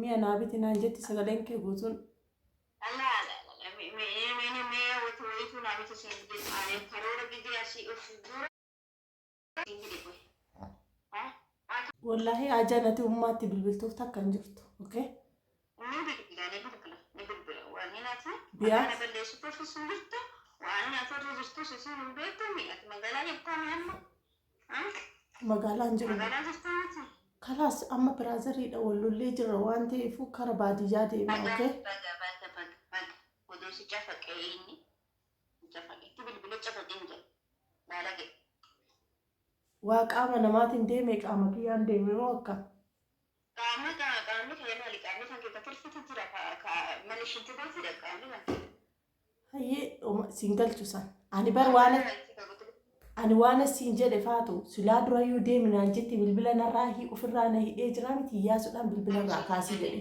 mi'a naa biti naan jetti sagaleen kee guutuun Wallaahi haa jaalate ummaatti bilbiltuuf takka hin jirtu. Okay? Biyaa. Magaalaa hin jiru. Kalaas amma biraazariidha wal lollee jirra waan ta'eef kara baadiyyaa deema. Okay? Mucafa itti bilbile cafo dinge baalage. Waa qaama namaatin deeme qaama kiyyaan deeme moo akka. Qaama kaa qaamni kee maali qaamni kan kee ka tirfiti jira ka ka mali shinti beetidha qaamni kan kee. Hayyee oma siin galchu san. Ani bar waan Maali kan kee ka gutu. ani waan asiin jedhe faatu silaa durayyuu deemi naan jetti bilbila narraa hi ofirraa na hidhee jiraa miti iyyaasuudhaan bilbila irraa kaasii jedhe.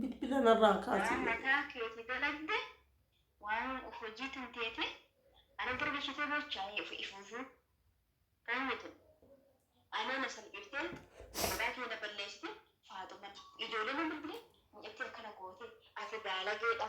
Bilbila narraa kaasii. mataa keeti dalagde waan hojii tan teete ana bira gashitee bochaa ofi ifuufuu kaawwatu anaa na salphifte maqaa kee na balleessite faaxuman ijoollee na bilbile mucatti akkana goote ati baalageedha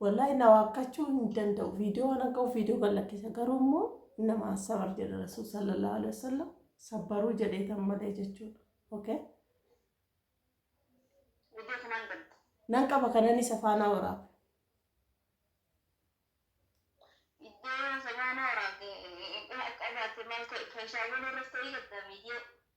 Wallahi na waakkachuu hin danda'u. Viidiyoo waan akka viidiyoo kan lakkisa. Garuu immoo nama sabar jedha Rasuul sallallahu alaihi wasallam sabbaruu jedheetan malee jechuudha. Okay? Viidiyoo sanaan banta. Nan qaba kanan isa faanaa waraaba. Viidiyoo isa faanaa waraabde qabaate maal ta'e kan shaawwan irratti ta'ee gaddaa viidiyoo.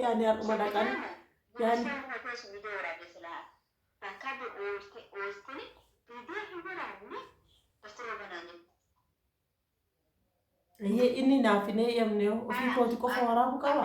Yaani har'uma dhaqan. Yaani. Ayyee inni naaf hin eeyyamne ofii kooti qofa waraabu qaba.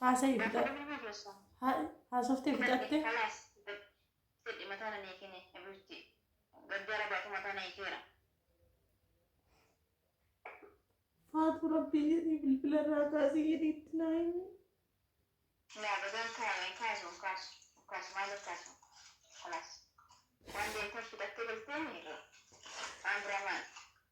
Haasayi haasoftee fixatte. Faatu rabbii jedhii bilbila irraa kaasii jedhii itti naa himi.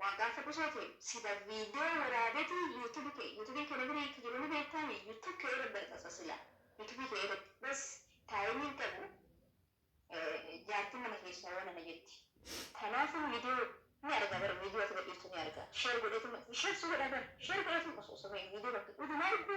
Waa gaafadhu soo tee sila video waraabeti YouTube kee YouTube kee namini akka jiru ni beektaa mii YouTube kee irra maxxansa sila YouTube kee irratti bas time hin qabu jaartin mana keessaa yoo nana jetti tanaafuu video ni arga bar video ati gadhiiftu ni arga share godheetuma share si godha bar share godheetuma osoo osoo video bakka uduma argu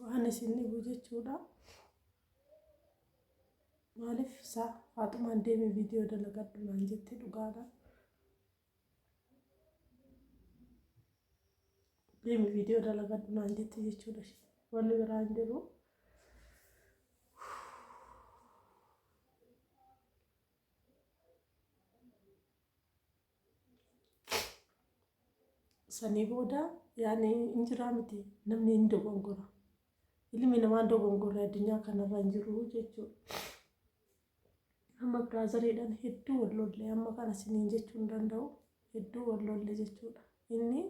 waan isin dhibu jechuudha. Maaliif isaa haatumaan deeme viidiyoo dalagadhu naan jette dhugaadha. Deemi viidiyoo dalagadhu naan jette jechuudha. Wanni biraa hin jiru. Sanii booda yaani hin jiraa miti namni hin dogongora. Ilmi namaa hin dogongorre addunyaa kanarra hin jiru jechuudha. Amma biraazariidhaan hedduu wal lolle amma kana siniin jechuu hin danda'u hedduu wal lolle jechuudha. Inni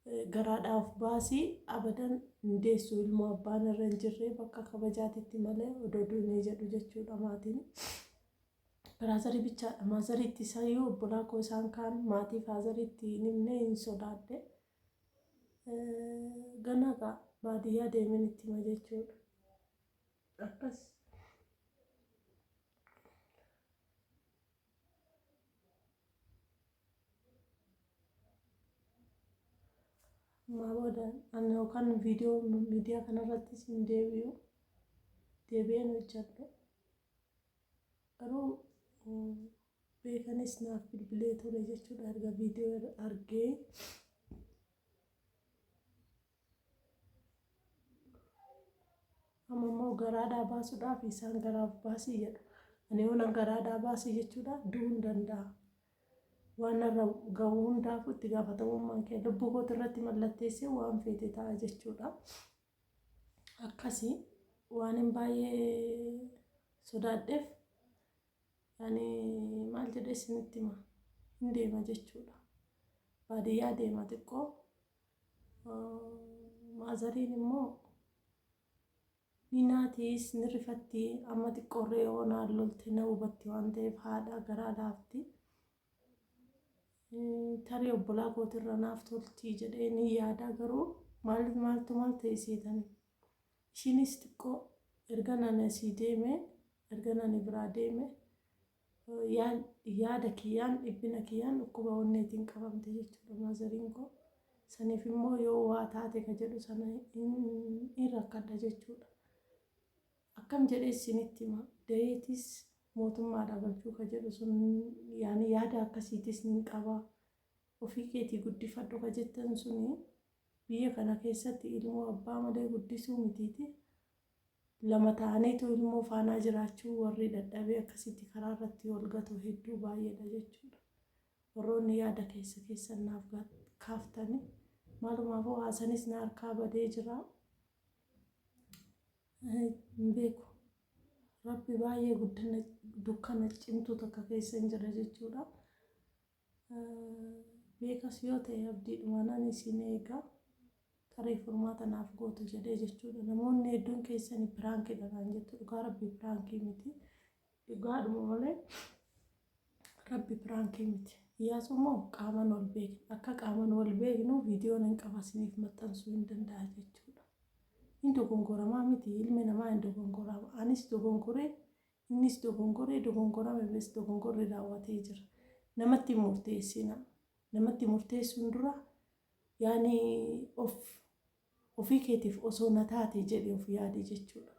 eh, garaadhaa of baasii abadan hin deessu ilmoo abbaan irra hin jirre bakka kabajaatitti malee odoo duunee jedhu jechuudha maatiin. Biraazarii bichaadha. Maazarii itti isayyuu obbolaa koo isaan kaan maatii faazarii itti hin himne hin sodaadhe. Ganaa gaa baadiyyaa deemeen itti hima jechuudha. Akkas. Ammaa booda ani yookaan viidiyoo miidiyaa kanarrattis hin deebi'u. Deebi'een hojjedhe. Garuu beekanis naaf bilbilee ture jechuudha erga viidiyoo irra argee. Amma immoo garaadhaa baasuudhaaf isaan garaaf baasii jedhu. Ani yoo nan garaadhaa baasii jechuudha du'uun danda'a. Waan narra gahu hundaafuu itti gaafatamummaan kee lubbuu kooti irratti mallatteessee waan feete ta'a jechuudha. akkasi waanin baay'ee sodaadheef ani maal jedhee isinitti hima hin deema jechuudha baadiyyaa deema xiqqoo maazariin immoo ni naatiis ni rifatti amma xiqqoorree yoo naan lolte na hubatti waan ta'eef haadha garaa laafti tarii obbolaa kootirra naaf toltii jedhee ni yaada garuu maal maaltu maal ta'e seetanii ishiinis xiqqoo erga nani asii deeme erga nani biraa deeme yaada kiyyaan dhibbina kiyyaan dhukkuba onneetiin qabamte jechuudha maazariin koo saniif immoo yoo waa taate ka jedhu sana in rakkadha jechuudha. Akkam jedhee issinitti hima? Dayeetis mootummaadhaa galchuu ka jedhu sun yaani yaada akkasiitis nin qaba. Ofii keetii guddifadhu ka jettan suni biyya kana keessatti ilmoo abbaa malee guddisuu mitiiti. Lama ta'aniitu ilmoo faanaa jiraachuu warri dadhabee akkasitti karaa irratti wal gatu hedduu baay'eedha jechuudha. Warroonni yaada keessa keessan naaf kaaftani maalumaafuu haasanis na harkaa badee jira. hin beeku. Rabbi baay'ee guddina dukkana cimtuu takka keessa hin jira jechuudha. Beekas yoo ta'e abdiidhuma nan isin eega tarii furmaata naaf gootu jedhee jechuudha. Namoonni hedduun keessan piraankidha naan jettu dhugaa rabbi piraankii miti. Dhugaadhuma malee rabbi piraankii miti. Iyyaasuu immoo qaamaan wal beekna. Akka qaamaan wal beeknu viidiyoo nan qaba isiniif maxxansuu hin danda'a jechuudha. Hin dogongoramaa miti ilmi namaa hin dogongorama. Anis dogongoree innis dogongoree dogongorame bes dogongorri raawwatee jira. Namatti hin murteessina. Namatti murteessuun dura yaani of Ofii keetiif osoo na taatee jedhii of yaadi jechuudha.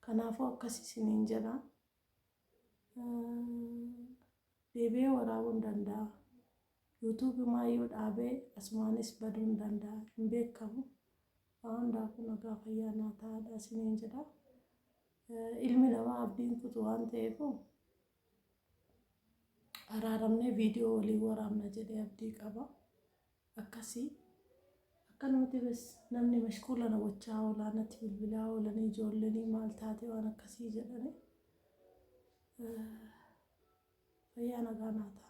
Kanaafuu akkas isiniin jedha. Deebi'ee waraabuu hin danda'a. YouTube maayyuu dhaabee asumaanis baduu hin danda'a. Hin beekamu. Waa hundaafuu nagaa fayyaa naa ta'aadha isiniin jedha. Ilmi namaa abdiin kutu waan ta'eef araaramnee viidiyoo waliin waraabna jedhee abdii qaba. akkasi akkanumati bes namni mashquula na gochaa oolaa nati bilbilaa oolanii ijoollenii maal taate waan akkasii jedhani fayyaa nagaa naa ta'a.